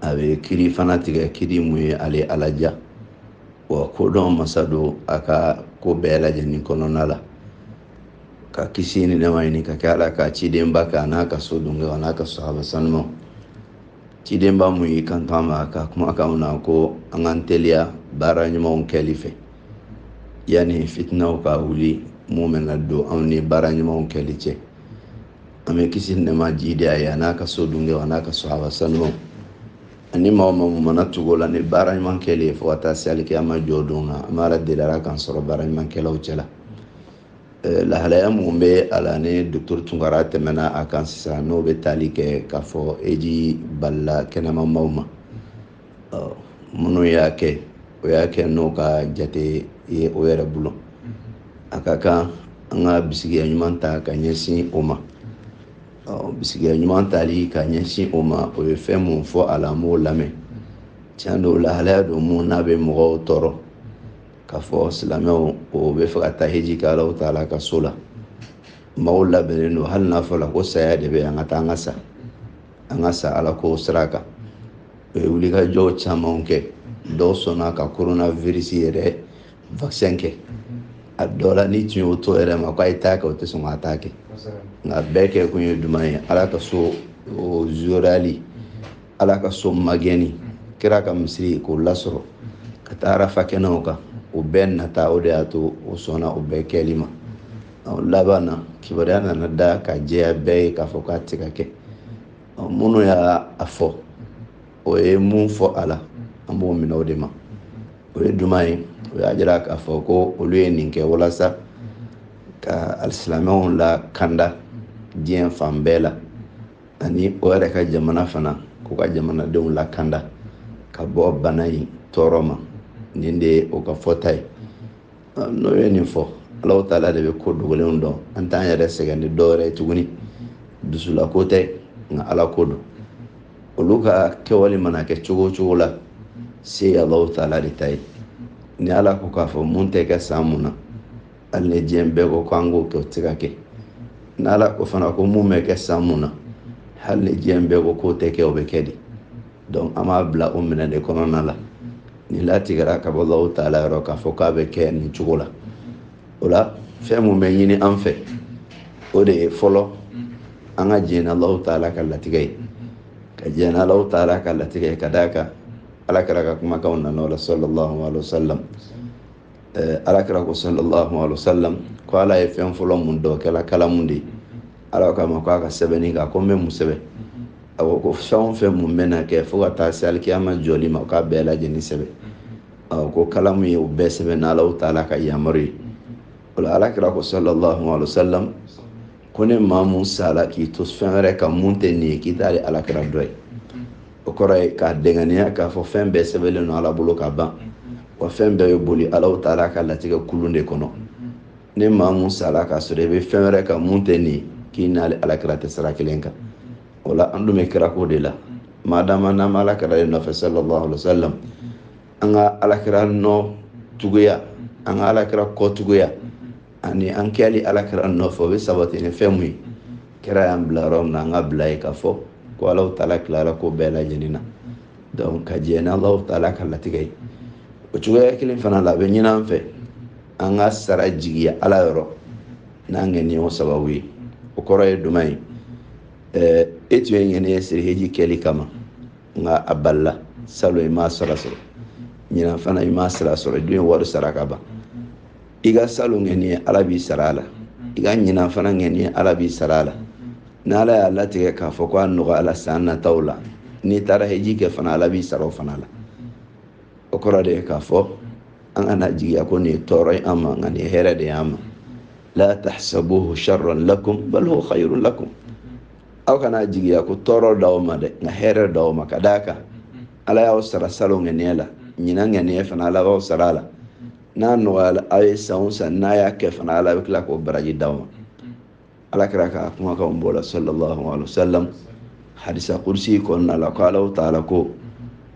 a bɛ kiri fana tigɛ kiri mun ye ale ala diya wa kodɔn masa don a ka ko bɛɛ lajɛlen kɔnɔna la ka kisi ni nɛma ɲini ka kɛ ala ka cidenba kan a n'a ka sodenw a n'a ka sahaba sanumaw cidenba mun y'i kanto an ma a ka kumakanw na ko an k'an teliya baara ɲumanw kɛli fɛ yanni fitinaw ka wuli mun bɛna don anw ni baara ɲumanw kɛli cɛ an bɛ kisi ni nɛma jiidi a ye a n'a ka sodenw a n'a ka sahaba sanumaw ani maa o maa mana tugu u la ni baara ɲuman kɛli ye fo ka taa se alikiyama jɔ don na an b'a deli a k'an sɔrɔ baara ɲumankɛlaw cɛ la lahalaya minnu bɛ a la ni dɔkɔtɔrɔ tunkara tɛmɛna a kan sisan n'o bɛ tali kɛ k'a fɔ heji balila kɛnɛma maaw ma minnu y'a kɛ o y'a kɛ n'o ka jate ye o yɛrɛ bolo a ka kan an ka bisigiya ɲuman ta ka ɲɛsin o ma bisigiya ɲuman tali ka ɲɛsin o ma o ye fɛn mun fɔ a la an b'o lamɛn tiɲɛ don lahalaya don mun n'a bɛ mɔgɔw tɔɔrɔ k'a fɔ silamɛw o b'a fɛ ka taa heji kɛ alahu taala ka so la maaw labɛnnen don hali n'a fɔra ko saya de bɛ an ka taa an ka sa an ka sa ala ko sira kan u ye wulikajɔw camanw kɛ dɔw sɔnna ka korona virisi yɛrɛ vaccin kɛ a dɔ la n'i tun y'o to o yɛrɛ ma k'a ye taa a kɛ o tɛ sɔn ka taa a kɛ nka o bɛɛ kɛ kun ye jumɛn ye ala ka so o zorali ala ka so magɛnni kira ka misiri k'o lasɔrɔ ka taa arafa kɛnɛ kan o bɛɛ nata o de y'a to o sɔnna o bɛɛ kɛli ma laban na kibaruya nana da ka jɛya bɛɛ ye k'a fɔ k'a tɛ ka kɛ minnu y'a fɔ o ye mun fɔ a la an b'o minɛ o de ma o ye jumɛn ye o y'a jira k'a fɔ ko olu ye nin kɛ walasa ka alisilamɛw lakanda diɲɛ fan bɛɛ la ani o yɛrɛ ka jamana fana k'u ka jamanadenw lakanda ka bɔ bana in tɔɔrɔ ma nin de ye o ka fɔta ye n'o ye nin fɔ alahu taala de bɛ ko dogolenw dɔn an t'an yɛrɛ sɛgɛn ni dɔwɛrɛ ye tuguni dusulako tɛ nka ala ko don olu ka kɛwale mana kɛ cogo o cogo la se alahu taala de ta ye ni ala ko k'a fɔ mun tɛ kɛ san mun na hali ni diɲɛ bɛɛ ko k'an k'o kɛ o tɛ ka kɛ ni ala ko fana ko mun bɛ kɛ san mun na hali ni diɲɛ bɛɛ ko k'o tɛ kɛ o bɛ kɛ de donc an b'a bila o minɛn de kɔnɔna la nin latigɛra ka bɔ alahu taala yɔrɔ k'a fɔ k'a bɛ kɛ nin cogo la o la fɛn mun bɛ ɲini an fɛ o de ye fɔlɔ an ka jɛn n'alahu taala ka latigɛ ye ka jɛn n'alahu taala ka latigɛ ye ka d'a kan ala kira ka kumakanw nana o la sallallahu alaihi wa sallam ala kira ko sallallahu alaihi wa sallam ko ala ye fɛn fɔlɔ mun da o kɛla kalamu de ye ala k'a ma ko a ka sɛbɛnni kɛ a ko n bɛ mun sɛbɛn a ko ko fɛn o fɛn mun bɛna kɛ fo ka taa se alikiyama jɔli ma k'a bɛɛ lajɛlen sɛbɛn a ko kalamu ye o bɛɛ sɛbɛn n'alahu taala ka yamaru ye o la alakira ko sallallahu alaihi wa sallam ko ni maa mun sala k'i to fɛn wɛrɛ kan mun tɛ nin ye k'i t'ale alakira dɔ ye o kɔrɔ ye k'a dɛngɛniya k'a fɔ fɛn bɛɛ sɛbɛnlen don ala bolo ka ban wa fɛn bɛɛ bɛ boli alahu taala ka latigɛ kulun de kɔnɔ ni maa mun sara k'a sɔrɔ i bɛ fɛn wɛrɛ kan mun tɛ nin k'i n'ale alakira tɛ sira kelen kan o la an dun bɛ kira ko de la maadama n'an bɛ alakira de nɔfɛ sallallahu alaihi wa sallam an ka alakira nɔ tuguya an ka alakira kɔ tuguya ani an kɛli alakira nɔfɛ o bɛ sabati ni fɛn mun ye kira y'an bila yɔrɔ min na an ka bila yen k'a fɔ ko alahu taala tilara ko bɛɛ lajɛlen na donc ka jɛn n'alahu taala ka latigɛ ye o cogoya kelen fana la a bɛ ɲin'an fɛ an ka sara jigiya ala yɔrɔ n'an ka ŋɛniya sababu ye o kɔrɔ ye jumɛn ye ɛɛ e tun ye ŋɛniya siri heji kɛli kama nka a balila salon i m'a sira sɔrɔ ɲinan fana i m'a sira sɔrɔ i dun ye wari sara ka ban i ka salon ŋɛniya ala b'i sara a la i ka ɲinan fana ŋɛniya ala b'i sara a la ni ala y'a latigɛ k'a fɔ ko a nɔgɔyala san nataw la n'i taara heji kɛ fana ala b'i sara o fana la o kɔrɔ de ye k'a fɔ an kan'a jigiya ko nin ye tɔɔrɔ ye an ma nka nin ye hɛrɛ de ye an ma la tahsabuhu sharran lakum bal huwa khayrun lakum aw kan'a jigiya ko tɔɔrɔ d'aw ma dɛ nka hɛrɛ d'aw ma ka d'a kan ala y'aw sara salon ŋɛniya la ɲinan ŋɛniya fana ala b'aw sara a la n'a nɔgɔyala aw ye san o san n'a y'a kɛ fana ala bɛ tila k'o baraji d'aw ma alakira ka kumakanw b'o la sallallahu alaihi wa sallam hadisi kudusi kɔnɔna la ko alahu taala ko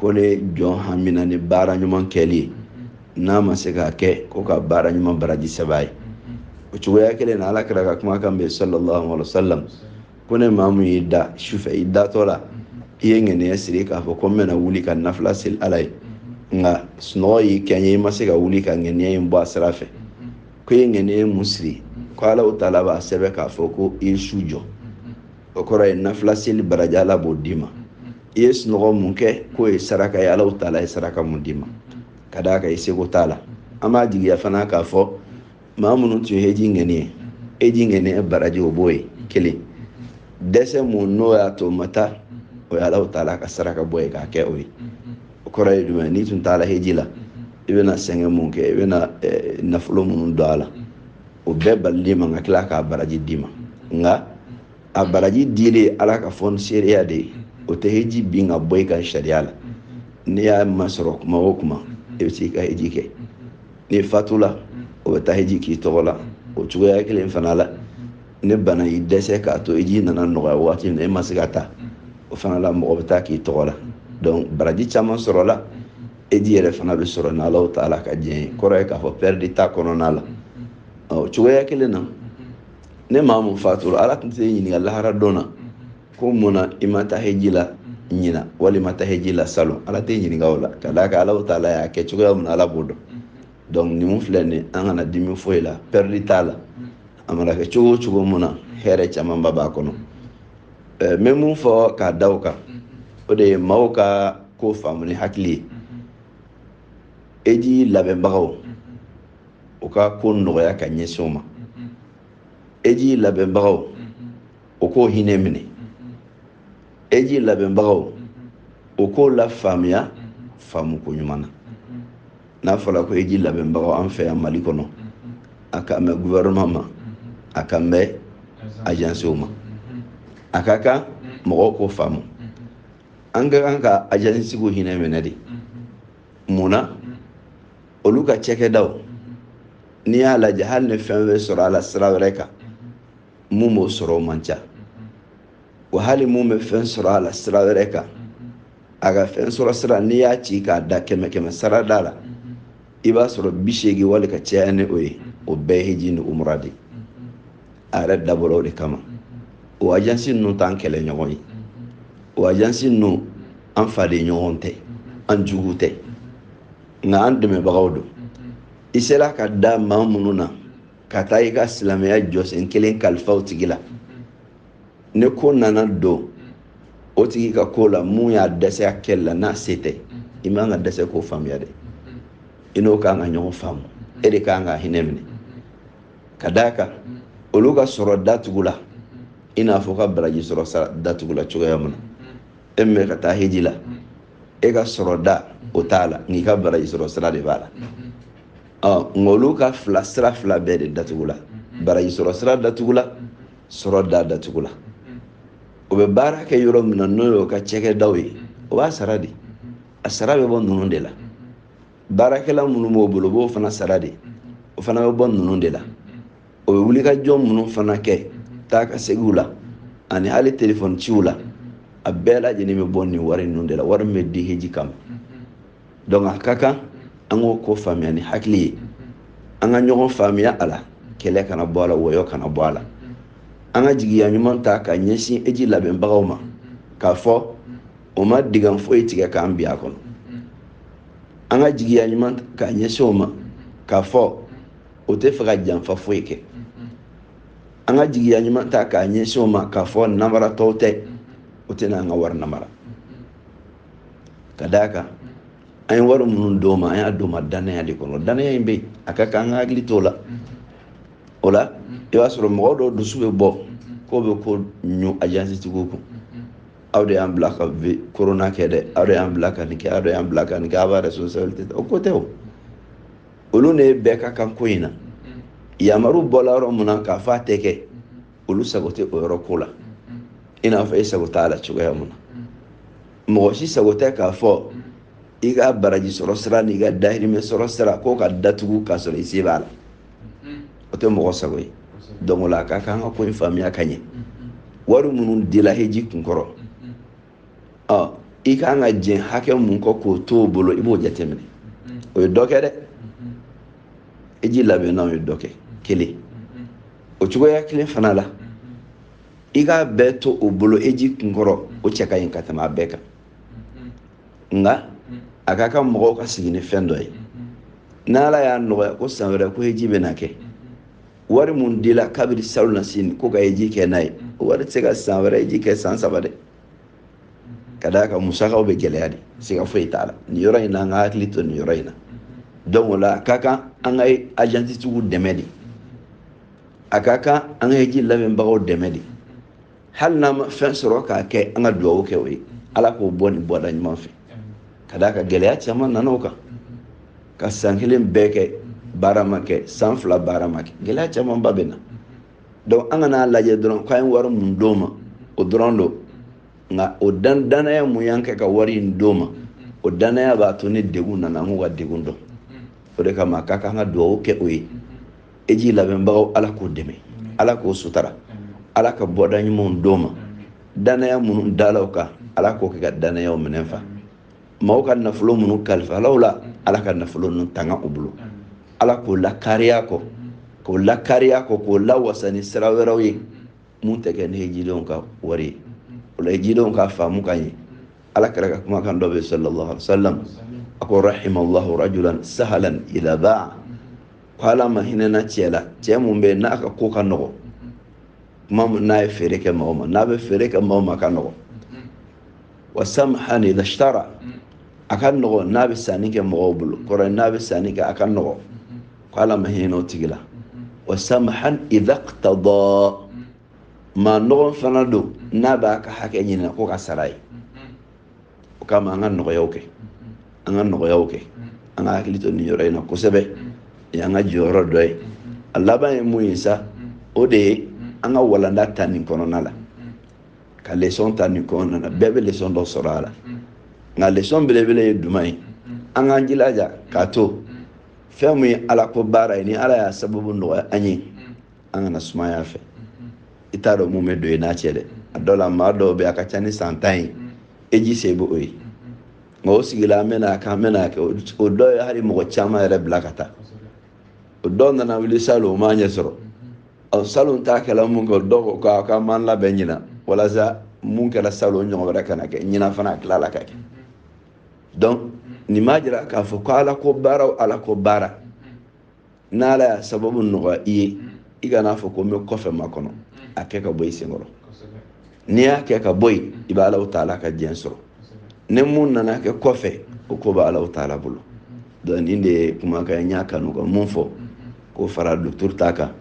ko ni jɔn hamina ni baara ɲuman kɛli ye n'a ma se k'a kɛ ko ka baara ɲuman baraji sɛb'a ye o cogoya kelen na alakira ka kumakan bɛ sallallahu alaihi wa sallam ko ni maa mun y'i da sufɛ i datɔ la i ye ŋɛniya siri k'a fɔ ko n bɛna wuli ka nafila seli ala ye nka sunɔgɔ y'i kɛɲɛ i ma se ka wuli ka ŋɛniya in bɔ a sira fɛ k'i ye ŋɛniya mun siri ko alahu taala b'a sɛbɛn k'a fɔ ko i ye su jɔ o kɔrɔ ye nafila seli baraji ala b'o d'i ma i ye sunɔgɔ mun kɛ k'o ye saraka ye alahu taala ye saraka mun d'i ma ka d'a kan i seko t'a la an b'a jigiya fana k'a fɔ maa minnu tun ye heji ŋɛniya heji ŋɛniya baraji o b'o ye kelen dɛsɛ mun n'o y'a to o ma taa o ye alahu taala ka saraka bɔ ye k'a kɛ o ye o kɔrɔ ye jumɛn n'i tun taara heji la i bɛna sɛgɛn mun kɛ i bɛna eh, nafolo minnu don a la o bɛɛ balil'i ma ka tila k'a baraji d'i ma nka a baraji dilen ala ka fonisireya de ye o tɛ heji bin ka bɔ i kan sariya la n'i y'a masɔrɔ kuma o kuma i bɛ se ka heji kɛ n'i fatula o bɛ taa heji k'i tɔgɔ la o cogoya kelen fana la ni bana y'i dɛsɛ k'a to heji nana nɔgɔya waati min na e ma se ka taa o fana la mɔgɔ bɛ taa k'i tɔgɔ la donc baraji caman sɔrɔla heji yɛrɛ fana bɛ sɔrɔ n'alahu tala ka diɲɛ ye kɔrɔ ye k'a fɔ pɛridi t'a kɔnɔna la ɔ cogoya kelen na ni maa mun fatura ala tun t'i ɲininka lahara don na ko mun na i ma taa heji la ɲina wali i ma taa heji la salon ala t'i ɲininka o la ka d'a kan alahu tala y'a kɛ cogoya min na ala b'o dɔn donc ni mun filɛ nin an kana dimi foyi la pɛridi t'a la a mana kɛ cogo o cogo mun na hɛrɛ camanba b'a kɔnɔ n bɛ mun fɔ k'a da o kan o de ye maaw ka ko faamu ni hakili ye heji labɛnbagaw u ka ko nɔgɔya ka ɲɛsin o ma heji labɛnbagaw u k'o hinɛ minɛ heji labɛnbagaw u k'o lafaamuya faamuko ɲuman na n'a fɔra ko heji labɛnbagaw an fɛ yan mali kɔnɔ a kan bɛ gouvernement ma a kan bɛ agencew ma a ka kan mɔgɔw k'o faamu an ka kan ka agence tigiw hinɛ minɛ de mun na olu ka cɛkɛdaw n'i y'a lajɛ hali ni fɛn bɛ sɔrɔ a la sira wɛrɛ kan mun b'o sɔrɔ o man ca wa hali mun bɛ fɛn sɔrɔ a la sira wɛrɛ kan a ka fɛn sɔrɔ sira n'i y'a ci k'a da kɛmɛ kɛmɛsarada la i b'a sɔrɔ bi seegin wali ka caya ni o ye o bɛɛ ye heji ni umura de a yɛrɛ dabɔra o de kama o ajansi ninnu t'an kɛlɛ ɲɔgɔn ye o ajansi ninnu an faden ɲɔgɔn tɛ an jugu tɛ nka an dɛmɛbagaw don i sera ka da maa minnu na ka taa i ka silamɛya jɔsen kelen kalifa o tigi la ni ko nana don o tigi ka ko la mun y'a dɛsɛ a kɛli la n'a se tɛ i man ka dɛsɛ k'o faamuya dɛ i n'o kan ka ɲɔgɔn faamu e de kan ka hinɛ minɛ ka d'a kan olu ka sɔrɔ datugula i n'a fɔ i ka baraji sɔrɔ sira datugula cogoya min na e min bɛ ka taa heji la e ka sɔrɔ da o t'a la nka i ka baraji sɔrɔ sira de b'a la nka olu ka fila sira fila bɛɛ de datugula baraji sɔrɔ sira datugula sɔrɔ da datugula o bɛ baara kɛ yɔrɔ min na n'o y'o ka cɛkɛdaw ye o b'a sara de a sara bɛ bɔ ninnu de la baarakɛla minnu b'o bolo o b'o fana sara de o fana bɛ bɔ ninnu de la o bɛ wulikajɔ minnu fana kɛ taa ka segiw la ani hali telefɔni ciw la a bɛɛ lajɛlen bɛ bɔ nin wari ninnu de la wari min bɛ di heji kama donc a ka kan an k'o ko faamuya ni hakili ye an ka ɲɔgɔn faamuya a la kɛlɛ kana bɔ a la wɔyɔ kana bɔ a la an ka jigiya ɲuman ta k'a ɲɛsin hiji labɛnbagaw ma k'a fɔ o ma dinga foyi tigɛ k'an bin a kɔnɔ an ka jigiya ɲuman k'a ɲɛsin o ma k'a fɔ o tɛ fɛ ka janfa foyi kɛ an ka jigiya ɲuman ta k'a ɲɛsin o ma k'a fɔ namaratɔw tɛ o tɛna an ka wari namara ka d'a kan an ye wari minnu d'o ma an y'a d'o ma dannaya de kɔnɔ dannaya in bɛ a ka kan an ka hakili t'o la o la i b'a sɔrɔ mɔgɔ dɔw dusu bɛ bɔ k'o bɛ ko ɲun ajansitigiw kun aw de y'an bila ka korona kɛ dɛ aw de y'an bila ka nin kɛ aw de y'an bila ka nin kɛ aw b'a responsabilité o ko tɛ o olu de ye bɛɛ ka kan ko in na yamaru bɔla yɔrɔ mun na k'a fɔ a tɛ kɛ olu sago tɛ o yɔrɔ ko la i n'a fɔ e sago t'a la cogoya mun na mɔgɔ si sago tɛ k'a fɔ i ka baraji sɔrɔ sira n'i ka dahirimɛ sɔrɔ sira k'o ka datugu k'a sɔrɔ i se b'a la o tɛ mɔgɔ sago ye donc o la a ka kan an ka ko in faamuya ka ɲɛ wari minnu dila hiji kunkɔrɔ ɔ i ka kan ka jɛn hakɛ mun kɔ k'o to o bolo i b'o jateminɛ o ye dɔ kɛ dɛ hiji labɛnnaw ye dɔ kɛ kelen o cogoya kelen fana la i k'a bɛɛ to o bolo hiji kunkɔrɔ o cɛ ka ɲi ka tɛmɛ a bɛɛ kan nka a ka kan mɔgɔw ka sigi ni fɛn dɔ ye n'ala y'a nɔgɔya ko san wɛrɛ ko hiji bɛna kɛ wari mun dila kabiri salonnasini ko ka hiji kɛ n'a ye o wari tɛ se ka san wɛrɛ hiji kɛ san saba dɛ ka d'a kan musakaw bɛ gɛlɛya de siga foyi t'a la nin yɔrɔ in na an ka hakili to nin yɔrɔ in na donc o la a ka kan an ka ajansitigiw dɛmɛ de a ka kan an ka hiji labɛnbagaw dɛmɛ de hali n'an ma fɛn sɔrɔ k'a kɛ an ka dugawu kɛ o ye ala k'o bɔ nin bɔda ɲuman fɛ ka d'a kan gɛlɛya caman nana o kan ka san kelen bɛɛ kɛ baara ma kɛ san fila baara ma kɛ gɛlɛya camanba bɛ na donc an kan'a lajɛ dɔrɔn k'an ye wari mun d'o ma o dɔrɔn don nka o dan dannaya mun y'an kɛ ka wari in d'o ma o dannaya b'a to ni degun nana an k'u ka degun dɔn o de kama k'a k'an ka dugawu kɛ o ye hiji labɛnbagaw ala k'o dɛmɛ ala k'o sutara ala ka bɔda ɲuman d'o ma dannaya minnu dala u kan ala k'o kɛ ka dannayaw minɛn fa maaw ka nafolo minnu kalifala u la ala ka nafolo ninnu tanga u bolo ala k'o lakariya kɔ k'o lakariya kɔ k'o lawasa ni sira wɛrɛw ye mun tɛ kɛ ni hijidenw ka wari ye o la hijidenw k'a faamu ka ɲɛ ala kira ka kumakan dɔ bɛ sallallahu alaihi wa sallam a ko rahimallahu rajulan sahalan iza baa ko ala ma hinɛna cɛ la cɛ mun bɛ n'a ka ko ka nɔgɔ tuma min n'a ye feere kɛ mɔgɔ ma n'a bɛ feere kɛ mɔgɔ ma ka nɔgɔ wa samhan idha ishtara a ka nɔgɔ n'a bɛ sanni kɛ mɔgɔw bolo kɔrɔ ye n'a bɛ sanni kɛ a ka nɔgɔ ko ala ma hinɛ o tigi la wa samhan idha iqtada maa nɔgɔn fana don n'a b'a ka hakɛ ɲini na ko k'a sara a ye o kama an ka nɔgɔyaw kɛ an ka nɔgɔyaw kɛ an ka hakili to nin yɔrɔ in na kosɛbɛ nin y'an ka jɔyɔrɔ dɔ ye a laban ye mun ye sa o de ye an ka walanda ta nin kɔnɔna la ka lesɔn ta nin kɔnɔna na bɛɛ bɛ lesɔn dɔ sɔrɔ a la nka lesɔn belebele ye jumɛn ye an k'an jilaja k'a to fɛn min ye ala ko baara ye ni ala y'a sababu nɔgɔya an ye an kana sumaya fɛ i t'a dɔn mun bɛ don i n'a cɛ dɛ a dɔw la maa dɔw bɛ a ka ca ni san tan ye heji se b'o ye nka o sigila an bɛn'a kɛ an bɛn'a kɛ o dɔw ye hali mɔgɔ caman yɛrɛ bila ka taa o dɔw nana wuli salon o m'a ɲɛ sɔrɔ ɔ salon ta kɛla mun kɛ dɔw ko k'a k'an b'an labɛn ɲinan walasa mun kɛra salon ɲɔgɔn wɛrɛ kana kɛ ɲinan fana a tilala ka kɛ donc nin b'a jira k'a fɔ ko ala ko baara o ala ko baara n'ala y'a sababu nɔgɔya i ye i kan'a fɔ ko n bɛ kɔfɛ makɔnɔ a kɛ ka bɔ i senkɔrɔ n'i y'a kɛ ka bɔ yen i bɛ alahu taala ka diɲɛ sɔrɔ ni mun nana kɛ kɔfɛ o ko bɛ alahu taala bolo donc nin de ye kumakan n y'a kanu ka mun fɔ k'o fara docteur ta kan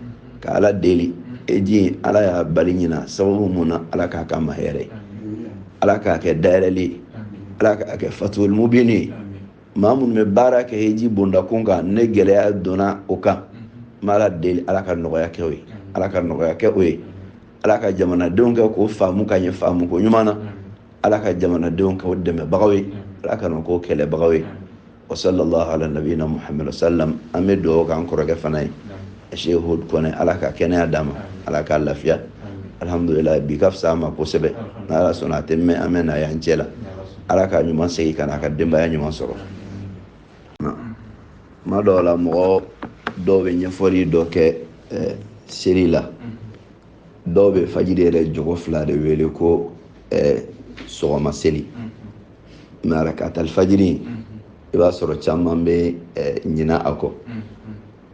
ka ala deli heji ala y'a bali ɲinan sababu mun na ala k'a kɛ an ma hɛrɛ ye ala k'a kɛ dayɛlɛli ye ala k'a kɛ fatuli mubini ye maa minnu bɛ baara kɛ heji bondakun kan ni gɛlɛya donna o kan n bɛ ala deli ala ka nɔgɔya kɛ o ye ala ka nɔgɔya kɛ o ye ala ka jamanadenw kɛ k'o faamu ka ɲɛ faamuko ɲuman na ala ka jamanadenw kɛ o dɛmɛbagaw ye ala kana k'o kɛlɛbagaw ye wa salalahu ala nabiyina muhamadu wa salam an bɛ dugawu k'an kɔrɔkɛ fana ye Sheikh Hud Kone ala ka kɛnɛya d'a ma ala k'a lafiya alhamdulillah bi ka fisa a ma kosɛbɛ n'ala sɔnna a tɛ mɛn an bɛn'a y'an cɛ la ala k'a ɲuman segin ka na a ka denbaya ɲuman sɔrɔ tuma dɔw la mɔgɔ dɔw bɛ nafila dɔ kɛ eh, seli la dɔw bɛ fajiri yɛrɛ jɔko fila de wele ko eh, sɔgɔma seli mɛ arakata alifajiri i b'a sɔrɔ caman bɛ eh, ɲina a kɔ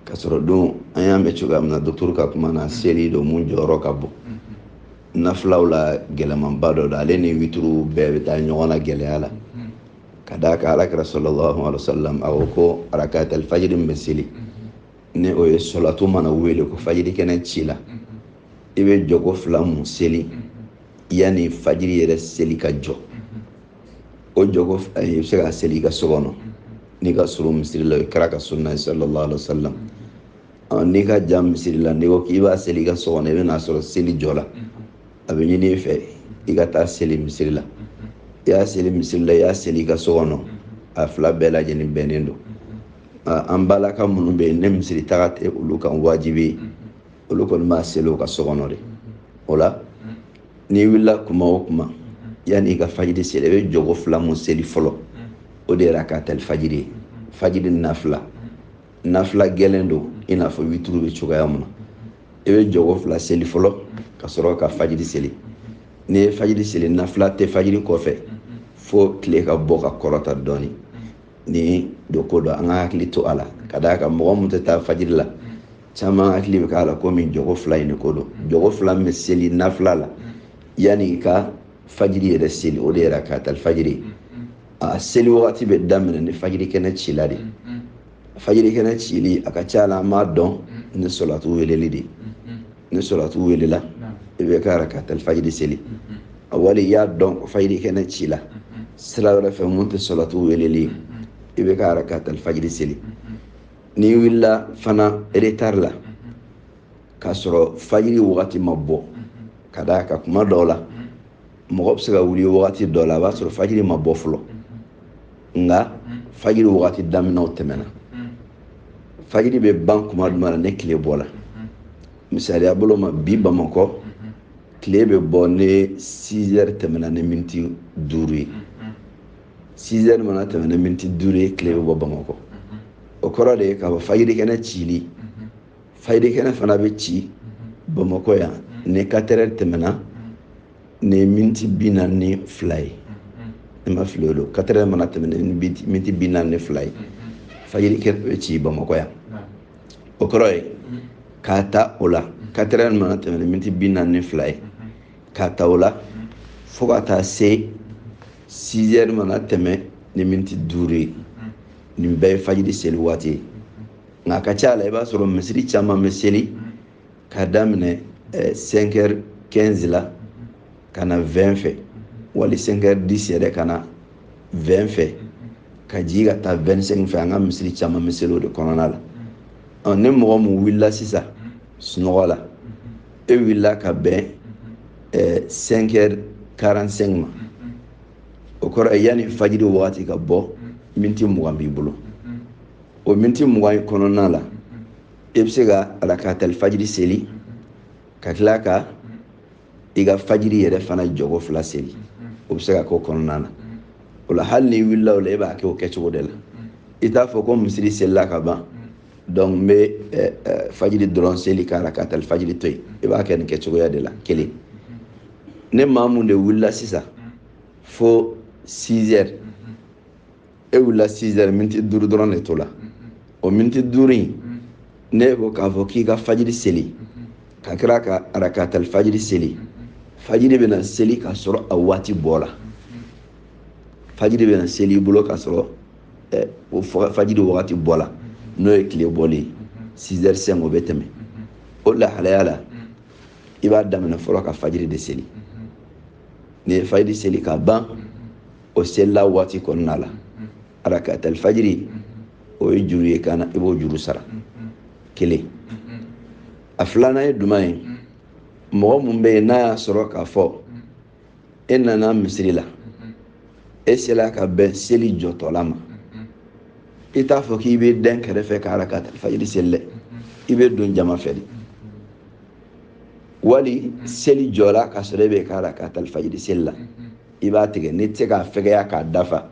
k'a sɔrɔ dun an y'a mɛn cogoya min na dɔgɔtɔrɔ ka kuma na seli don mun jɔyɔrɔ ka bon nafilaw la gɛlɛmanba dɔ don ale ni wituru bɛɛ bɛ taa ɲɔgɔn na gɛlɛya la ka d'a kan ala kira sɔlɔlahu alayhi wa sallam a ko ko arakata alifajiri min bɛ seli ni o ye sɔlatu mana wele ko fajiri kɛnɛ cila i bɛ jɔko fila mun seli yanni fajiri yɛrɛ seli ka jɔ o jɔgo i bɛ se k'a seli i ka so kɔnɔ n'i ka surun misiri la o ye kira ka sunna ye sallallahu alaihi wa sallam n'i ka jan misiri la n'i ko k'i b'a seli i ka so kɔnɔ i bɛ n'a sɔrɔ seli jɔla a bɛ ɲini i fɛ i ka taa seli misiri la i y'a seli misiri la i y'a seli i ka so kɔnɔ a fila bɛɛ lajɛlen bɛnnen don an balaka minnu bɛ yen ni misiri taga tɛ olu kan wajibi ye olu kɔni b'a seli o ka so kɔnɔ de o la n'i wulila kuma o kuma yanni i ka fajiri seli i bɛ jɔgo fila mun seli fɔlɔ o de ye rakaatali fajiri ye fajiri nafila nafila gɛlɛn don i n'a fɔ wituru bɛ cogoya mun na i bɛ jɔgo fila seli fɔlɔ ka sɔrɔ ka fajiri seli n'i ye fajiri seli nafila tɛ fajiri kɔfɛ fo tile ka bɔ ka kɔrɔta dɔɔnin ni don ko don an ka hakili to a la ka d'a kan mɔgɔ mun tɛ taa fajiri la caman hakili bɛ k'a la komi jɔgo fila in de ko don jɔgo fila min bɛ seli nafila la yanni i ka fajiri yɛrɛ seli o de ye rakaata fajiri a seli wagati bɛ daminɛ ni fajiri kɛnɛ cila de fajiri kɛnɛ cili a ka ca la an b'a dɔn ni sɔlatu weleli de ni sɔlatu welela i b'i ka rakaatali fajiri seli awali i y'a dɔn fajiri kɛnɛ cila sira wɛrɛ fɛ mun tɛ sɔlatu weleli ye i b'i ka rakaatali fajiri seli n'i wulila fana retard la k'a sɔrɔ fajiri wagati ma bɔ ka d'a kan kuma dɔw la mɔgɔ bɛ se ka wuli wagati dɔ la a b'a sɔrɔ fajiri ma bɔ fɔlɔ nka fajiri wagati daminɛ o tɛmɛna fajiri bɛ ban kuma jumɛn na ni tile bɔla misaliya bolo ma bi bamakɔ tile bɛ bɔ ni 6 heures tɛmɛna ni miniti duuru ye 6 heures mana tɛmɛ ni miniti duuru ye tile bɛ bɔ bamakɔ o kɔrɔ de ye k'a fɔ fajiri kɛnɛ cili fajiri kɛnɛ fana bɛ ci bamakɔ yan ni 4 heures tɛmɛna ni miniti bi naani ni fila ye ni n ma fili o don 4 heures mana tɛmɛ ni miniti bi naani ni fila ye fajiri kɛnɛ bɛ ci bamakɔ yan o kɔrɔ ye k'a ta o la 4 heures mana tɛmɛ ni miniti bi naani ni fila ye k'a ta o la fo ka taa se 6 heures mana tɛmɛ ni miniti duuru ye nin bɛɛ ye fajiri seli waati ye nka a ka ca la i b'a sɔrɔ misiri caman bɛ seli ka daminɛ eh, 5 heures 15 la ka na 20 fɛ wali 5 heures 10 yɛrɛ ka na 20 fɛ ka jigin ka taa 25 fɛ an ka misiri caman bɛ seli o de kɔnɔna la ɔ ni mɔgɔ min wulila sisan sunɔgɔ la e wulila ka bɛn eh, 5 heures 45 ma o kɔrɔ ye yanni fajiri wagati ka bɔ miniti mugan b'i bolo o miniti mugan in kɔnɔna la i bɛ se ka arakatali fajiri seli ka tila ka i ka fajiri yɛrɛ fana jɔko fila seli o bɛ se ka k'o kɔnɔna na o la hali n'i wulila o la e b'a kɛ o kɛcogo de la i t'a fɔ ko misiri selila ka ban donc n bɛ eh, eh, fajiri dɔrɔn seli k'arakatali fajiri to yen i b'a kɛ nin kɛcogoya de la kelen ne maa mun de wulila sisan fo 6 heures e wulila sizɛri miniti duuru dɔrɔn de tola o miniti duuru in n'e ko k'a fɔ k'i ka fajiri seli ka tila ka arakatali fajiri seli fajiri bɛna seli k'a sɔrɔ a waati bɔla fajiri bɛna seli i bolo k'a sɔrɔ eh, o fajiri wagati bɔla n'o ye tile bɔlen ye sizɛri sɛn o bɛ tɛmɛ o lahalaya la i b'a daminɛ fɔlɔ ka fajiri de seli n'i ye fajiri seli ka ban o selila waati kɔnɔna la arakatali fajiri o ye juru y'i kan na i b'o juru sara kelen a filanan ye juman ye mɔgɔ mun bɛ yen n'a y'a sɔrɔ k'a fɔ e nana misiri la e sela ka bɛn seli jɔtɔla ma i t'a fɔ k'i b'i dɛn kɛrɛfɛ ka arakatali fajiri seli dɛ i bɛ don jama fɛ de wali seli jɔra ka sɔrɔ e bɛ ka arakatali fajiri seli la i b'a tigɛ n'i tɛ se k'a fɛgɛya k'a dafa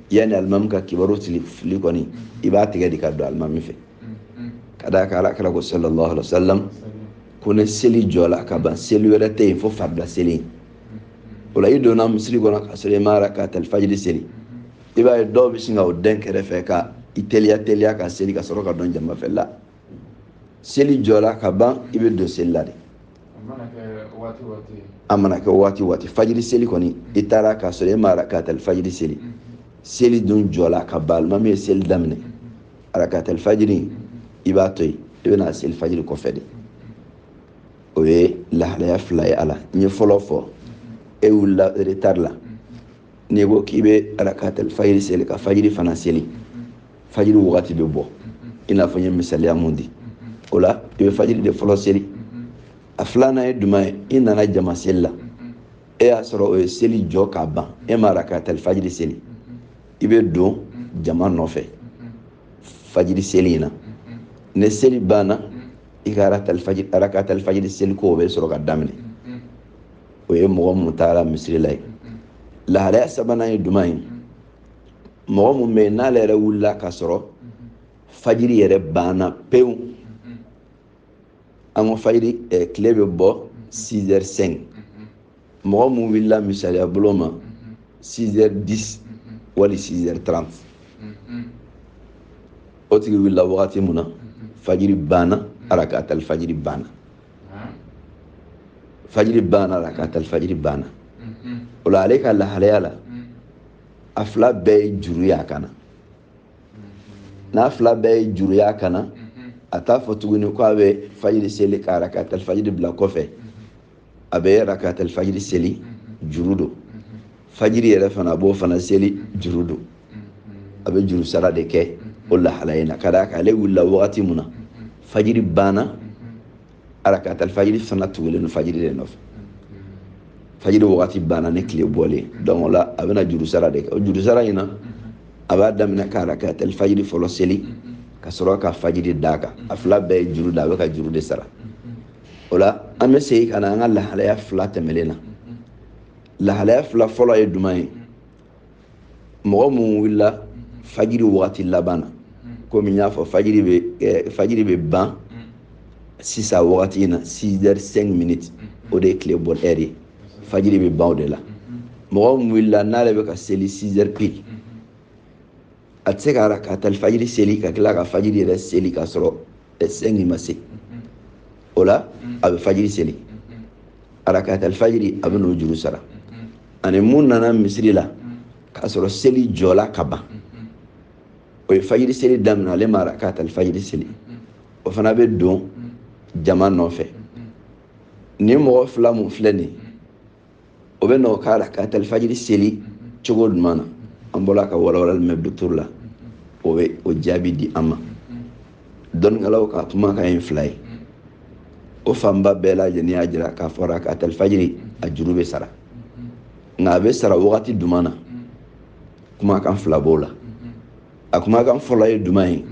yanni alimami ka kibaru sili fili kɔni i b'a tigɛ de ka don alimami fɛ ka d'a kan ala kira ko sallallahu alaihi wa sallam ko ni seli jɔla ka ban seli wɛrɛ tɛ yen fo farila seli o la i donna misiri kɔnɔ ka sɔrɔ i ma arakatali fajiri seli i b'a ye dɔw bɛ sin ka o dɛn kɛrɛfɛ ka i teliya teliya ka seli ka sɔrɔ ka don jama fɛ la seli jɔra ka ban i bɛ don seli la de a mana kɛ waati waati fajiri seli kɔni i taara k'a sɔrɔ e ma arakatali fajiri seli mm. seli dun jɔra ka ban alimami ye seli daminɛ mm. arakatali fajiri mm. i b'a to yen i bɛn'a seli fajiri kɔfɛ de o ye lahalaya fila ye a la n ye fɔlɔ fɔ e wulila retari la n'i ko k'i bɛ arakatal fajiri seli ka fajiri fana seli fajiri wagati bɛ bɔ i n'a fɔ n ye misaliya mun di o la i bɛ fajiri de fɔlɔ seli a filanan ye juman ye i nana jama seli la e y'a sɔrɔ o ye seli jɔ ka ban e ma arakatal fajiri seli i bɛ don jama nɔfɛ fajiri seli in na ni seli banna i ka arakatal fajiri seli ko o bɛ sɔrɔ ka daminɛ o ye mɔgɔ mun taara misiri la ye lahalaya sabanan ye duman ye mɔgɔ mun bɛ yen n'ale yɛrɛ wulila ka sɔrɔ fajiri yɛrɛ banna pewu an ko fajiri eh, tile bɛ bɔ 6h05 mɔgɔ mun wulila misaliya bolo ma 6h10 wali 6h30 o tigi wulila wagati mun na fajiri banna arakatali fajiri banna fajiri banna rakatali fajiri banna o la ale ka lahalaya la a fila bɛɛ ye juru y'a kan na n'a fila bɛɛ ye juru y'a kan na a t'a fɔ tuguni ko a bɛ fajiri seli ka rakatali fajiri bila kɔfɛ a bɛ rakatali fajiri seli juru don fajiri yɛrɛ fana a b'o fana seli juru don a bɛ juru sara de kɛ o lahala in na ka d'a kan ale wulila wagati min na fajiri banna arakatali fajiri fana tugulen don fajiri de nɔfɛ fajiri wagati banna ni tile bɔlen don o la a bɛna juru sara de kɛ o juru sara in na a b'a daminɛ ka arakatali fajiri fɔlɔ seli ka sɔrɔ ka fajiri d'a kan a fila bɛɛ ye juru da a bɛ ka juru de sara o la an bɛ segin ka na an ka lahalaya fila tɛmɛlen na lahalaya fila fɔlɔ ye duman ye mɔgɔ min wulila fajiri wagati laban na komi n y'a fɔ fajiri bɛ eh, fajiri bɛ ban sisan wagati in na 6 heures 5 minutes o de ye tile bɔ heure ye fajiri bɛ ban o de la mɔgɔ min wulila n'ale bɛ ka seli 6 heures pile a tɛ se ka rakatali fajiri seli ka tila ka fajiri yɛrɛ seli ka sɔrɔ cinq ma se o la a bɛ fajiri seli arakatali fajiri a bɛn'o juru sara ani mun nana misiri la k'a sɔrɔ seli jɔla ka ban o ye fajiri seli daminɛ ale ma arakatali fajiri seli o fana bɛ don jama nɔfɛ nin mɔgɔ fila mun filɛ nin ye o bɛ n'o ka rakatali fajiri seli cogo duman na an bɔra ka walawalali mɛn docteur la o bɛ o jaabi di an ma dɔnnikɛlaw ka kumakan ye fila ye o fanba bɛɛ lajɛlen y'a jira k'a fɔ rakatali fajiri a juru bɛ sara nka a bɛ sara wagati duman na kumakan fila b'o la a kumakan fɔlɔ ye duman ye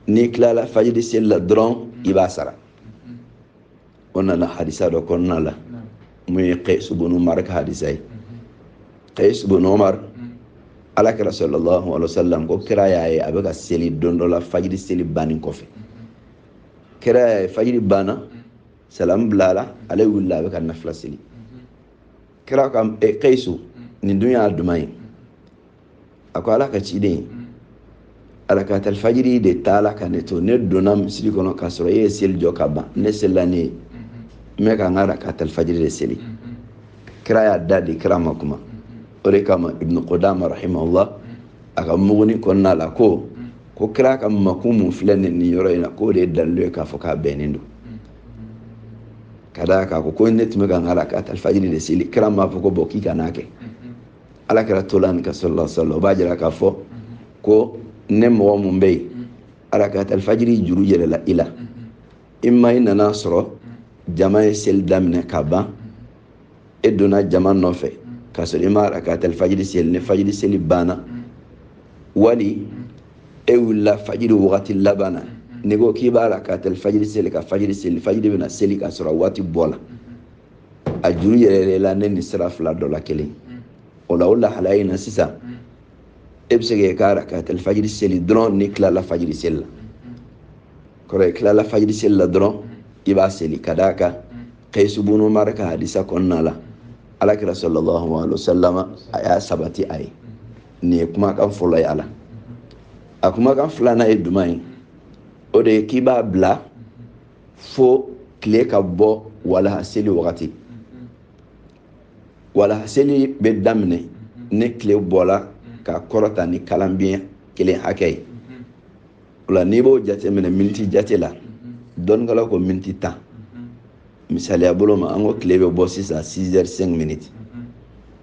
n'i tilala fajiri seli la dɔrɔn i b'a sara o nana hadisa dɔ kɔnɔna la mun ye kayisu bunu amri ka hadisa ye kayisu bunu amri ala kira sallallahu alaihi wasallam ko kira y'a ye a bɛ ka seli don dɔ la fajiri seli bannen kɔfɛ kira y'a ye fajiri banna salamu bilala ale wulila a bɛ ka nafila seli kira ko kayisu nin dun y'a duman ye a ko ala ka ciden arakatal fajiri de taala ka ne to ne donna misiri kɔnɔ k'a sɔrɔ e ye seli jɔ ka ban ne selila ne ye n bɛ ka n ka arakatal fajiri de seli kira y'a da de kira ma kuma o de kama ibnu kudama rahimahullah a ka muguni kɔnɔna la ko ko kira ka makun mun filɛ nin nin yɔrɔ in na k'o de ye dalilu ye k'a fɔ k'a bɛnnen don ka d'a kan a ko ko ne tun bɛ ka n ka arakatal fajiri de seli kira m'a fɔ ko bɔn k'i kan'a kɛ ala kira tola ni ka sɔrɔla sɔrɔla o b'a jira k'a fɔ ko ni mɔgɔ mun bɛ yen arakatal fajiri juru yɛlɛla i la ima i nana sɔrɔ jama ye seli daminɛ ka ban e donna jama nɔfɛ k'a sɔrɔ i ma arakatal fajiri seli ni fajiri seli banna wali e wulila fajiri wagati laban na n'i ko k'i b'arakatal fajiri seli ka fajiri seli fajiri bɛna seli k'a sɔrɔ a waati bɔla a juru yɛlɛla ne ni sira fila dɔ la kelen o la o lahalaya in na sisan e bɛ se k'i ka arakatal fajiri seli dɔrɔn n'i tilala fajiri seli la kɔrɔ ye tilala fajiri seli la dɔrɔn i b'a seli ka d'a kan kayisu bunu amuru ka hadisa kɔnɔna la alakira sallallahu alaihi wa sallam a y'a sabati a ye nin ye kumakan fɔlɔ ye a la a kumakan filanan ye jumɛn ye o de ye k'i b'a bila fo tile ka bɔ walaha seli wagati walaha seli bɛ daminɛ ni tile bɔla ka kɔrɔta ni kalabiɲɛ kelen hakɛ ye o la n'i b'o jate minɛ miniti jate la dɔnnikɛlaw ko miniti tan misaliya bolo ma an ko tile bɛ bɔ sisan 6 heures 5 minutes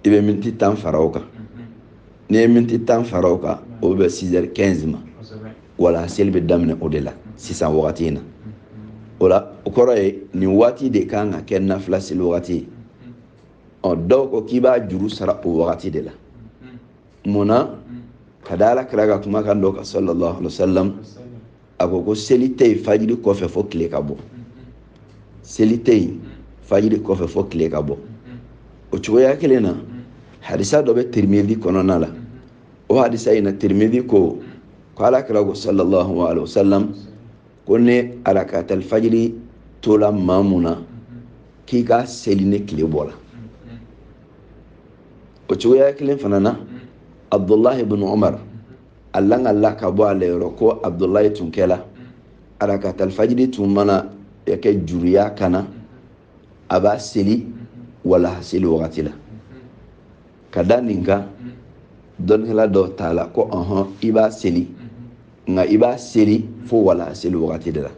i bɛ miniti tan fara o kan n'i ye miniti tan fara o kan o bɛ bɛn six heures quinze ma walaha seli bɛ daminɛ o de la sisan wagati in na o la o kɔrɔ ye nin waati de ka kan ka kɛ nafila seli wagati ye ɔ dɔw ko k'i b'a juru sara o wagati de la mun na ka da ala kira ka kumakan dɔ kan sallallahu alaihi wa sallam a ko ko seli tɛ yen fajiri kɔfɛ fo tile ka bɔ seli tɛ yen fajiri kɔfɛ fo tile ka bɔ o cogoya kelen na hadisa dɔ bɛ tirimizi kɔnɔna la o hadisa in na tirimizi ko ko ala kira ko sallallahu alaihi wasallam ko ni arakatal fajiri tola maa mun na k'i k'a seli ni tile bɔla o cogoya kelen fana na abdullahi ibn umar a lakalila ka bɔ ale yɔrɔ ko abudulayi tun kɛla arakatal fajiri tun mana kɛ juru ye a kan na a b'a seli walaha seli wagati la ka da nin kan dɔnnikɛla dɔw taala ko ɔhɔn i b'a seli nka i b'a seli fo walaha seli wagati de la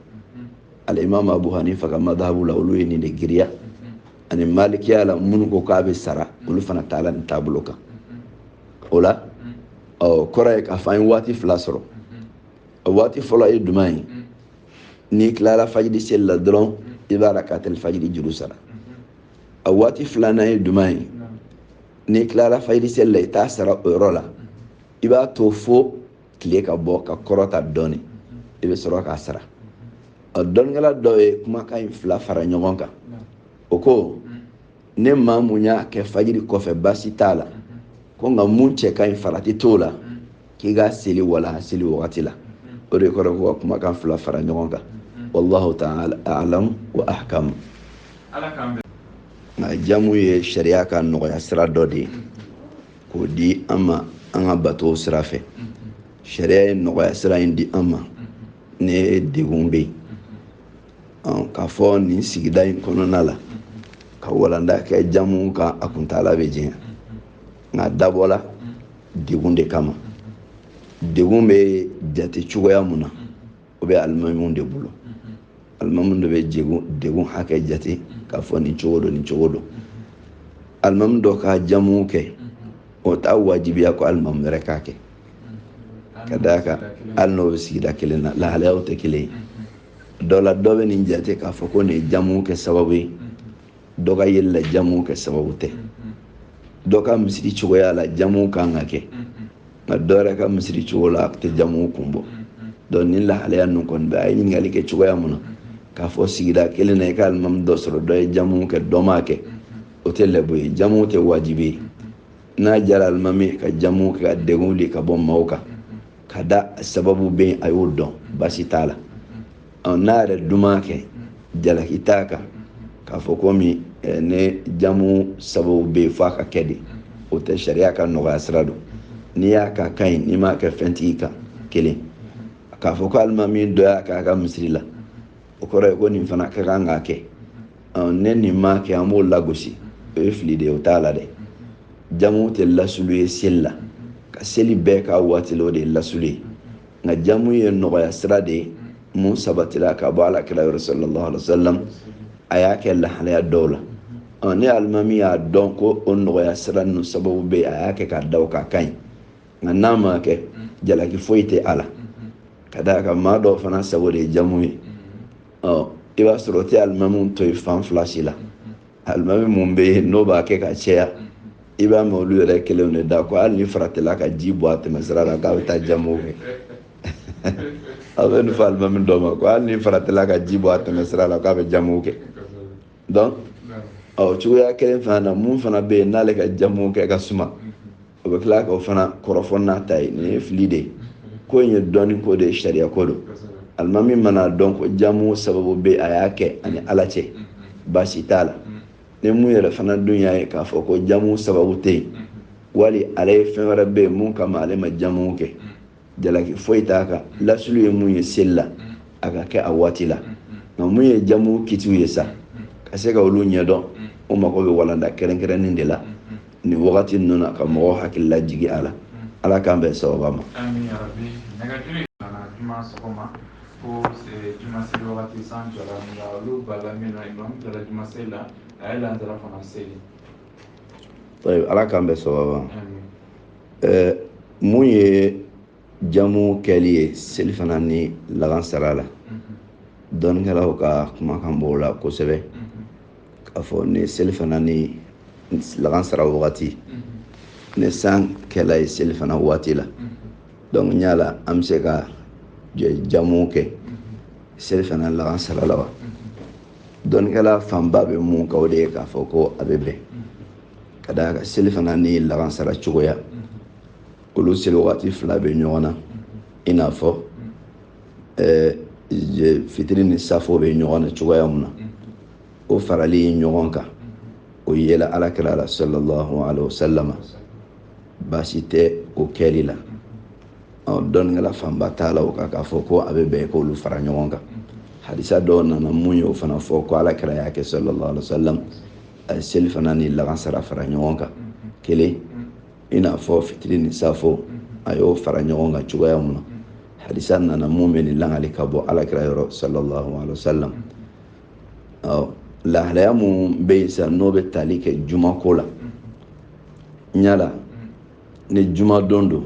alimami abu hanifa ka madahabu la olu ye nin de giriya ani malikiya la minnu ko k'a bɛ sara olu fana taala nin taabolo kan o la ɔ kɔrɔ ye k'a fɔ an ye waati fila sɔrɔ a waati fɔlɔ ye juman ye n'i tilara fajiri seli la dɔrɔn i bɛ rakatayil fajiri juru sara a waati filanan ye juman ye n'i tilara fajiri seli la i t'a sara o yɔrɔ la i b'a to fo tile ka bɔ ka kɔrɔta dɔɔni i bɛ sɔrɔ k'a sara a dɔnnikɛla dɔ ye kumakan in fila fara ɲɔgɔn kan o ko ni maa mun y'a kɛ fajiri kɔfɛ baasi t'a la ko nka mun cɛ ka ɲi farati t'o la k'i k'a seli walaha seli wagati la o de kɔrɔ ko ka kumakan fila fara ɲɔgɔn kan wallahu ta'ala a'lam wa ahkam nka jamu ye sariya ka nɔgɔya sira dɔ de ye k'o di an ma an ka batow sira fɛ sariya ye nɔgɔya sira in di an ma ni degun bɛ yen k'a fɔ nin sigida in kɔnɔna la ka walanda kɛ jamu kan a kuntaala bɛ jan nka a dabɔla degun de kama degun bɛ jate cogoya mun na o bɛ alimamiw de bolo alimamiw de bɛ degun hakɛ jate k'a fɔ nin cogo don nin cogo don alimami dɔ ka jamu kɛ o t'a wajibiya ko alimami wɛrɛ k'a kɛ ka d'a kan hali n'o bɛ sigida kelen na lahalayaw tɛ kelen ye dɔ la dɔ bɛ nin jate k'a fɔ ko nin ye jamu kɛ sababu ye dɔ ka yeli la jamu kɛ sababu tɛ dɔ ka misiri cogoya la jamu kan ka kɛ nka dɔ yɛrɛ ka misiri cogo la a tɛ jamu kun bɔ donc nin lahalaya ninnu kɔni bɛ a ye ɲininkali kɛ cogoya mun na k'a fɔ sigida kelen na i ka alimami dɔ sɔrɔ dɔ ye jamu kɛ dɔ m'a kɛ o tɛ lɛbu ye jamu tɛ wajibi ye n'a jara alimami ka jamu kɛ ka degun wuli ka bɔ maaw kan ka da sababu bɛ a y'o dɔn baasi t'a la n'a yɛrɛ dun m'a kɛ jalaki t'a kan k'a fɔ komi eh, ni jamu sababu bɛ yen fo a ka kɛ de o tɛ sariya ka nɔgɔya sira don n'i y'a kɛ a ka ɲi n'i m'a kɛ fɛn t'i kan kelen k'a fɔ ko alimami dɔ y'a k'a ka misiri la o kɔrɔ ye ko nin fana ka kan k'a kɛ ni nin m'a kɛ an b'o lagosi o ye fili de ye o t'a la dɛ jamu tɛ lasulu ye seli la ka seli bɛɛ k'a waati la o de ye lasulu ye nka jamu ye nɔgɔya sira de ye mun sabatira ka bɔ ala kira yɔrɔ sallallahu alaihi wasallam a y'a kɛ lahalaya dɔw la ɔ ni alimami y'a dɔn ko o nɔgɔya sira ninnu sababu bɛ a y'a kɛ k'a da o kan a ka ɲi nka n'a ma kɛ jalaki foyi tɛ a la ka d'a kan maa dɔw fana sago de ye jamu ye ɔ i b'a sɔrɔ o tɛ alimami to yen fan fila si la alimami mun bɛ yen n'o b'a kɛ ka caya i b'a mɛn olu yɛrɛ kelenw de da ko hali ni faratila ka ji bɔn a tɛmɛsira la k'a bɛ taa jamu kɛ a bɛ nin fɔ alimami dɔ ma ko hali ni faratila ka ji bɔn a tɛmɛsira la k'a bɛ jamu kɛ donc ɔ cogoya kelen fana na mun fana bɛ yen n'ale ka jamu kɛ ka suma o bɛ tila k'o fana kɔrɔfɔ n'a ta ye nin ye fili de ye ko in ye dɔnni ko de ye sariya ko don alimami mana a dɔn ko jamu sababu bɛ yen a y'a kɛ a ni ala cɛ baasi t'a la ni mun yɛrɛ fana dun y'a ye k'a fɔ ko jamu sababu tɛ yen wali ale ye fɛn wɛrɛ bɛ yen mun kama ale ma jamu kɛ jalaki foyi t'a kan lasulu ye mun ye seli la a ka kɛ a waati la nka mun ye jamu kitiw ye sa ka se ka olu ɲɛdɔn o mago bɛ walanda kɛrɛnkɛrɛnnen de la nin wagati ninnu na ka mɔgɔw hakili lajigi a la ala k'an bɛn sawaba ma ko juma seli wagati san jɔra nka olu b'a la min na imam jɔra juma seli la a ye lansara fana seli ala k'an bɛn sawaba ma ɛɛ mun ye jamu kɛli ye selifana ni lagansara la dɔnnikɛlaw ka kumakan b'o la kosɛbɛ k'a fɔ ni selifana ni lagansara wagati ni san kɛla ye selifana waati la donc yala an bɛ se ka jamu kɛ selifana ni lagansara la wa dɔnnikɛla fanba bɛ mun kan o de ye k'a fɔ ko a bɛ bɛn ka d'a kan selifana ni lagansara cogoya olu seli wagati fila bɛ ɲɔgɔn na i n'a fɔ fitiri ni safo bɛ ɲɔgɔn na cogoya min na o farali ɲɔgɔn kan o yela ala kira la sallallahu alaihi wasallam baasi tɛ o kɛli la dɔnnikɛla fanba taala o kan k'a fɔ ko a bɛ bɛn k'olu fara ɲɔgɔn kan hadisa dɔw nana mun y'o fana fɔ ko ala kira y'a kɛ sallallahu alaihi wasallam a ye selifana ni lagansara fara ɲɔgɔn kan kelen i n'a fɔ fitiri ni safo a y'o fara ɲɔgɔn kan cogoya mun na hadisa nana mun bɛ nin lakali ka bɔ ala kira yɔrɔ sallallahu alaihi wasallam ɔ lahalaya mun bɛ yen sisan n'o bɛ tali kɛ juma ko la yala ni juma don don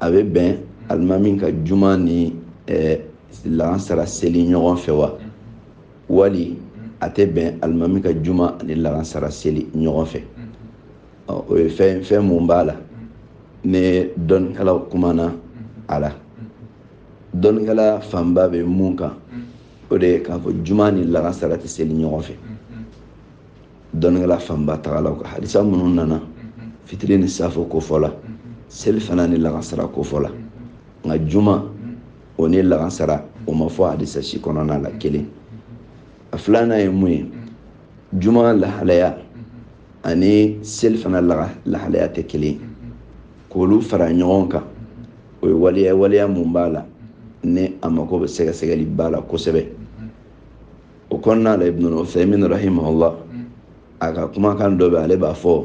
a bɛ bɛn alimami ka juma ni ɛɛ lagansara seli ɲɔgɔn fɛ wa wali a tɛ bɛn alimami ka juma ani lansara seli ɲɔgɔn fɛ o ye fɛn fɛn mun b'a la ni dɔnnikɛlaw kumana a la dɔnnikɛla fanba bɛ mun kan o de ye k'a fɔ juma ni lansara tɛ seli ɲɔgɔn fɛ dɔnnikɛla fanba tagala o kan hadisa minnu nana fitiri ni safo kofɔ la selifana ni lansara kofɔ la nka juma o ni lansara o ma fɔ hadisa si kɔnɔna la kelen a filanan ye mun ye juma lahalaya ani selifana lahalaya tɛ kelen k'olu fara ɲɔgɔn kan o ye waleya waleya mun b'a la ni a mako bɛ sɛgɛsɛgɛli ba la kosɛbɛ o kɔnɔna la ibnu uthaymin rahimahullah a ka kumakan dɔ bɛ ale b'a fɔ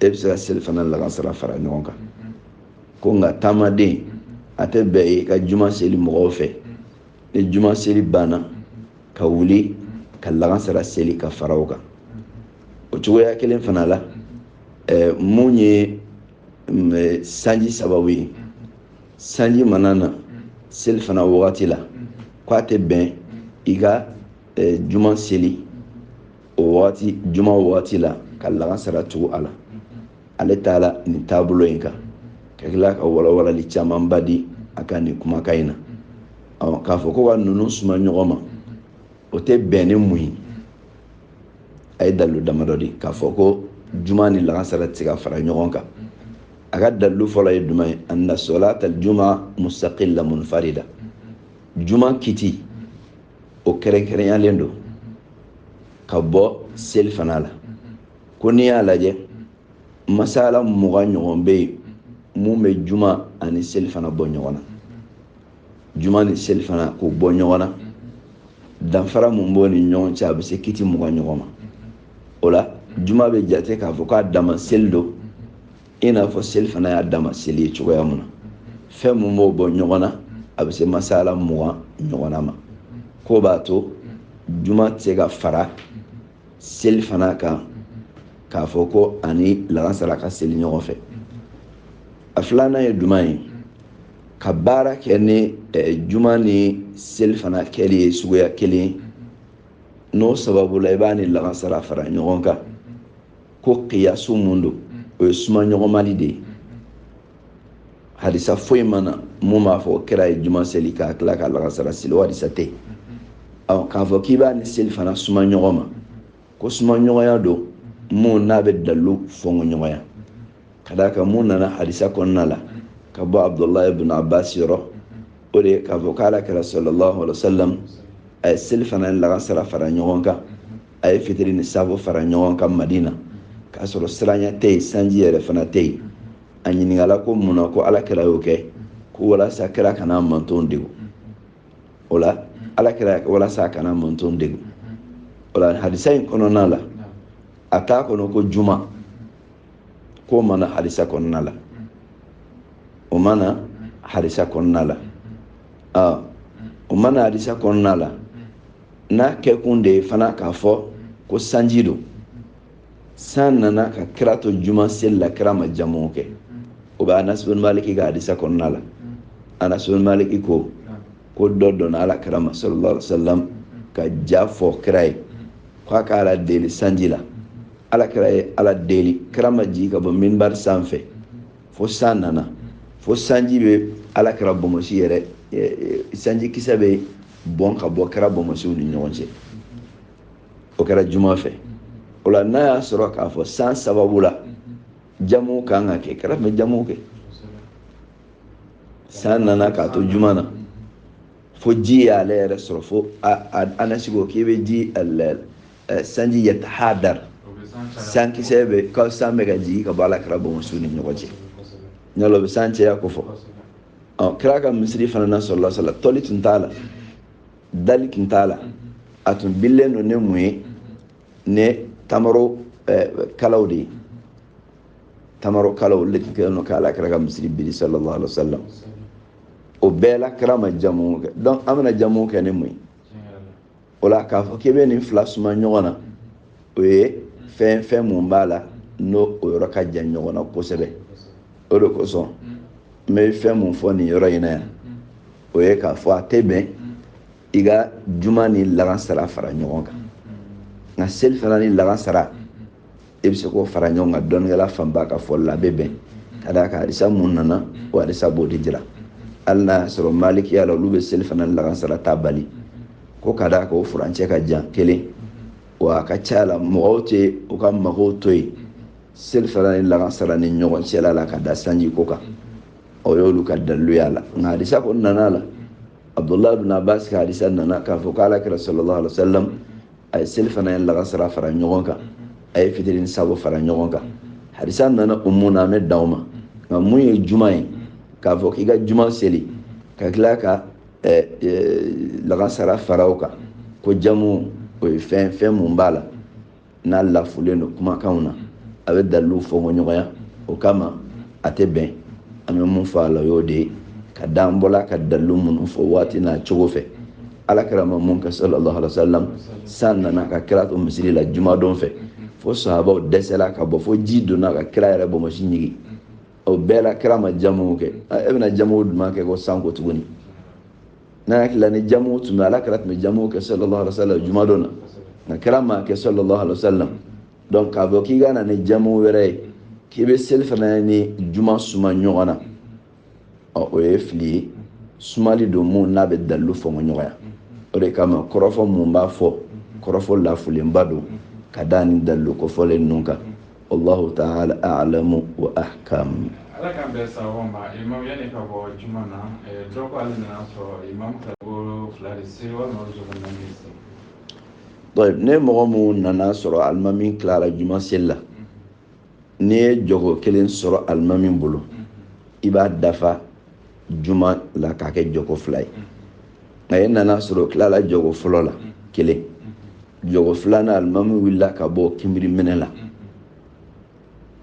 e bɛ se ka selifana lagansara fara ɲɔgɔn kan ko nka taamaden a tɛ bɛn i ka juma seli mɔgɔw fɛ ni juma seli banna ka wuli ka lagansara seli ka fara o kan o cogoya kelen fana la ɛɛ mun ye sanji sababu ye sanji mana na selifana wagati la k'a tɛ bɛn i ka juma seli o waati juma waati la ka lagansara tugu a la ale taara nin taabolo in kan ka tila ka walawalali camanba di a ka nin kumakan in na k'a fɔ ko ka ninnu suma ɲɔgɔn ma o tɛ bɛn ni mun ye a ye dalilu damadɔ di k'a fɔ ko juma ni lagansara tɛ se ka fara ɲɔgɔn kan a ka dalilu fɔlɔ ye jumɛn ye anna salata juma mustaqilla munfarida juma kiti o kɛrɛnkɛrɛnyalen don ka bɔ selifana la ko n'i y'a lajɛ masala mugan ɲɔgɔn bɛ yen mun bɛ juma ani selifana bɔ ɲɔgɔn na juma ni selifana k'o bɔ ɲɔgɔn na danfara mun b'o ni ɲɔgɔn cɛ a bɛ se kiti mugan ɲɔgɔn ma o la juma bɛ jate k'a fɔ k'a dama seli don i n'a fɔ selifana y'a dama seli ye cogoya mun na fɛn mun b'o bɔ ɲɔgɔn na a bɛ se masala mugan ɲɔgɔnna ma k'o b'a to juma tɛ se ka fara selifana kan k'a fɔ ko a ni laansara ka seli ɲɔgɔn fɛ a filanan ye jumɛn ye ka baara kɛ ni eh, juma ni selifana kɛli ye suguya kelen ye n'o sababu la i b'a ni lagansara fara ɲɔgɔn kan ko kiyasu mun don o ye suma ɲɔgɔnmali de ye hadisa foyi ma na mun b'a fɔ kira ye juma seli ka tila ka lagansara seli o hadisa tɛ yen ɔ k'a fɔ k'i b'a ni selifana suma ɲɔgɔn ma ko suma ɲɔgɔnya don mun n'a bɛ dalilu fɔnko ɲɔgɔnya ka d'a kan mun nana hadisa kɔnɔna la ka bɔ abudulayi ibn abbas yɔrɔ o de ye k'a fɔ k'ala kira sallallahu alaihi wa sallam a ye selifana lagansara fara ɲɔgɔn kan a ye fitiri ni saafo fara ɲɔgɔn kan madina k'a sɔrɔ siranya tɛ yen sanji yɛrɛ fana tɛ yen a ɲininkala ko mun na ko ala kira y'o kɛ ko walasa kira kana mantɔn degu o la ala kira walasa a kana mantɔn degu o la hadisa in kɔnɔna la a t'a kɔnɔ ko juma k'o ma na hadisa kɔnɔna la o ma na hadisa kɔnɔna la o ma na hadisa kɔnɔna la n'a kɛkun de ye fana k'a fɔ ko sanji don san nana ka kira to juma seli la kira ma jamu kɛ o bɛ anas bin maliki ka hadisa kɔnɔna la anas bin maliki ko ko dɔ donna ala kira ma sallallahu alaihi wasallam ka ja fɔ kira ye k'a ka ala deli sanji la ala kira ye ala deli kira ma jigin ka bɔ minbari sanfɛ fo san nana fo sanji bɛ ala kira bonbonsi yɛrɛ sanji kisɛ bɛ bɔn ka bɔ kira bonbonsiw ni ɲɔgɔn cɛ o kɛra juma fɛ o la n'a y'a sɔrɔ k'a fɔ san sababu la jamu kan ka kɛ kira tun bɛ jamu kɛ san nana k'a to juma na fo ji y'ale yɛrɛ sɔrɔ fo anasi ko k'i bɛ ji sanji yatahadar sankisɛ bɛ ka san bɛ ka jigin ka bɔ ala kira bonbonsiw ni ɲɔgɔn cɛ n'olu bɛ san caya ko fɔ ɔ kira ka misiri fana na sallallahu alaihi wa sallam tɔli tun t'a la dali tun t'a la a tun bililen don ni mun ye ni tamaro eh, kalaw de ye tamaro kalaw olu de tun kɛlen don k'ala kira ka misiri biri sallallahu alaihi wa sallam o bɛɛ la kira ma jamu kɛ donc an bɛna jamu kɛ ni mun ye o la k'a fɔ k'i bɛ nin fila suma ɲɔgɔn na o ye fɛn fɛn mun b'a la n'o o yɔrɔ ka jan ɲɔgɔn na kosɛbɛ o de kosɔn n bɛ fɛn mun fɔ nin yɔrɔ in na yan o ye k'a fɔ a tɛ bɛn i ka juma ni lagansara fara ɲɔgɔn kan nka selifana ni lagansara e bɛ se k'o fara ɲɔgɔn kan dɔnnikɛla fanba ka fɔli la a bɛ bɛn ka d'a kan hadisa mun nana o hadisa b'o de jira hali n'a y'a sɔrɔ malikiya la olu bɛ selifana lakansara ta bali ko ka d'a kan o furancɛ ka jan kelen wa a ka ca la mɔgɔw tɛ u ka magow to yen selifana ni lakansara ni ɲɔgɔn cɛla la ka da sanji ko kan o y'olu ka dalilu y'a la nka hadisa kɔnɔna la abdullahi bin abbas ka hadisa nana k'a fɔ k'ala kira sallallahu alaihi wa sallam a ye selifana ni lagansara fara ɲɔgɔn kan a ye fitiri ni safo fara ɲɔgɔn kan hadisa nana o mun na an bɛ dan o ma nka mun ye juma ye k'a fɔ k'i ka juma seli ka tila ka eh, eh, lagansara fara o kan ko jamu o ye fɛn fɛn mun b'a la n'a lafulen don kumakanw na a bɛ dalilu fɔ ko ɲɔgɔnya o kama a tɛ bɛn an bɛ mun fɔ a la o y'o de ye ka dan bɔla ka dalilu minnu fɔ waati n'a cogo fɛ ala kira ma mun kɛ sallallahu alaihi wasallam san nana ka kira to misiri la jumadon fɛ fo sahabaw dɛsɛla ka bɔ fo ji donna ka kira yɛrɛ bonbonsi ɲigi o bɛɛ la kira ma jamu kɛ e bɛna jamu jumɛn kɛ ko san ko tuguni ne hakili la ni jamu tun bɛ ala kira tun bɛ jamu kɛ sallallahu alaihi wasallam jumadon na nka kira m'a kɛ sallallahu alaihi wasallam donc k'a fɔ k'i ka na ni jamu wɛrɛ ye k'i bɛ selifana ni juma suma ɲɔgɔn na ɔ o ye fili ye sumali don mun n'a bɛ dalilu fɔmɔ ɲɔgɔnya o de kama kɔrɔfɔ mun b'a fɔ kɔrɔfɔ lafulenba don ka da nin dalilu kofɔlen ninnu kan allahu taala alamu wa ahkam ala k'an bɛn sababu ma imamu yanni ka bɔ juma na eh, dɔ ko ale nana sɔrɔ imamu ta ko fila de se walima o jɔgo naani de se ni mɔgɔ min nana sɔrɔ alimami tilara juma seli la n'i ye jɔgo kelen sɔrɔ alimami bolo i b'a dafa juma la k'a kɛ jɔgo fila ye nka e nana sɔrɔ tilala jɔgo fɔlɔ la kelen jɔgo filanan alimami wulila ka bɔ kinbiri minɛ la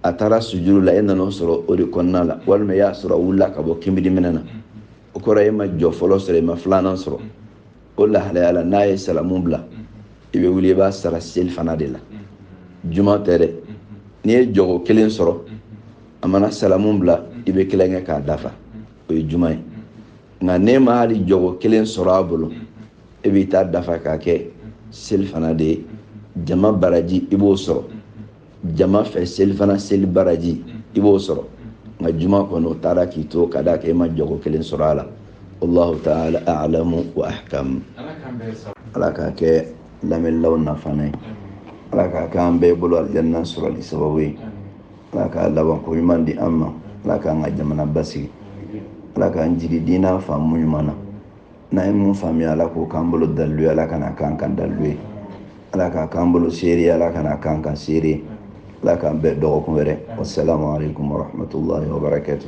a taara sujuru la e nana o sɔrɔ o de kɔnɔna la walima e y'a sɔrɔ a wulila ka bɔ kinbiri minɛ na o kɔrɔ e ma jɔ fɔlɔ sɔrɔ e ma filanan sɔrɔ o lahalaya la n'a ye salamu bila i bɛ wuli i b'a sara selifana de la juma tɛ dɛ n'i ye jɔgo kelen sɔrɔ a mana salamu bila i bɛ kelen kɛ k'a dafa o ye juma ye nka n'e ma hali jɔgo kelen sɔrɔ a bolo e b'i ta dafa k'a kɛ selifana de ye jama baraji i b'o sɔrɔ jama fɛ selifana seli baraji i b'o sɔrɔ nka juma kɔni o taara k'i to ka d'a kan e ma jɔgo kelen sɔrɔ a la allahu taala alamu wa ahkamu ala k'a kɛ lamɛnnilaw nafana ye ala k'a kɛ an bɛɛ bolo alijanna sɔrɔli sababu ye ala ka labanko ɲuman di an ma ala k'an ka jamana basigi ala k'an jigi diinɛ faamu ɲuman na n'an ye mun faamuya ala k'o k'an bolo dalilu ye ala kana k'an kan dalilu ye ala k'a k'an bolo seere ye ala kana k'an kan seere ye ala k'an bɛn dɔgɔkun wɛrɛ wasalamu aleykum warahmatullahi wabarakatu